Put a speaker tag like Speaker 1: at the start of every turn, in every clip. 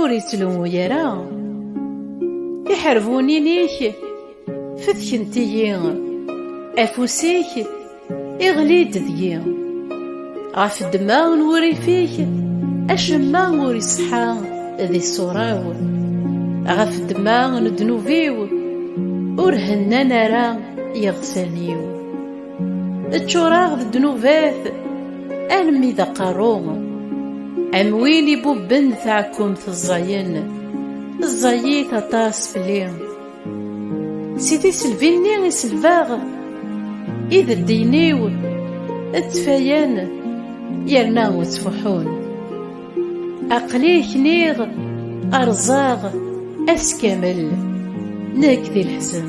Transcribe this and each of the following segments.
Speaker 1: Ur ittlummu ara. Iḥerbunin-ik fetkent-iyi. Afus-ik iɣli-d deg-i. Ɣef ddemma n wurrif-ik acemma ur iṣeḥḥa di ṣṣura-w. Ɣef ddemma n ddnub-iw ur hennan ara yeɣsan-iw. Ččureɣ d ddnubat almi d aqerru Am win ibubben taɛkumt ẓẓayen Ẓẓayit aṭas fell-i Si tiselbi-nni i selbeɣ Ideddiyen-iw ttfayen yerna ttfuḥun Aql-i kniɣ rẓaɣ ass kamel Nekk di leḥzen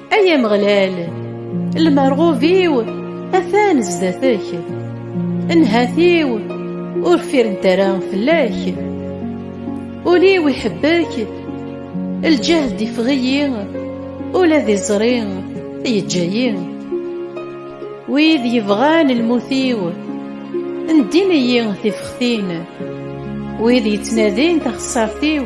Speaker 1: Ay Ameɣlal, lmerɣub-iw atan zdat-k, nnhat-iw ur firent ara fell-ak. Ul-iw iḥebbek, lǧehd ifeɣ-iyi, ula d iẓri yeǧǧa-yi. Wid yebɣan lmut-iw, ndin-iyi tifextin, wid yettnadin taxessart-iw,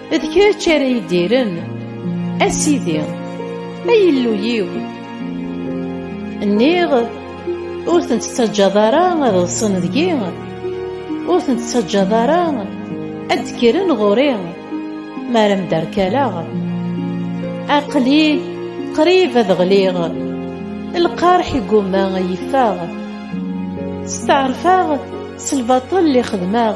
Speaker 1: D kečč ara idiren, a Sidi, a Illu-yiw. Nniɣ, ur tent-ttaǧǧaḍ ara ad ḍsen deg-i, ur tent-ttaǧǧaḍ ara ad d-kkren ɣur-i, mi ara mderkaleɣ. Aql-i qrib ad ɣliɣ, lqerḥ igumma a yi-ffeɣ. Steɛṛfeɣ s lbaṭel i xedmeɣ,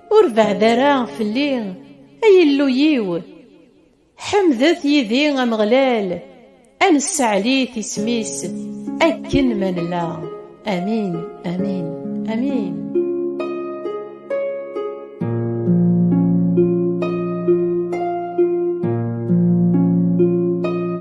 Speaker 1: Ur beɛd ara fell-i, ay Illu-yiw! Ḥemdet yid-i Ameɣlal, ad nesseɛlit isem-is akken ma nella. Amin, amin, amin.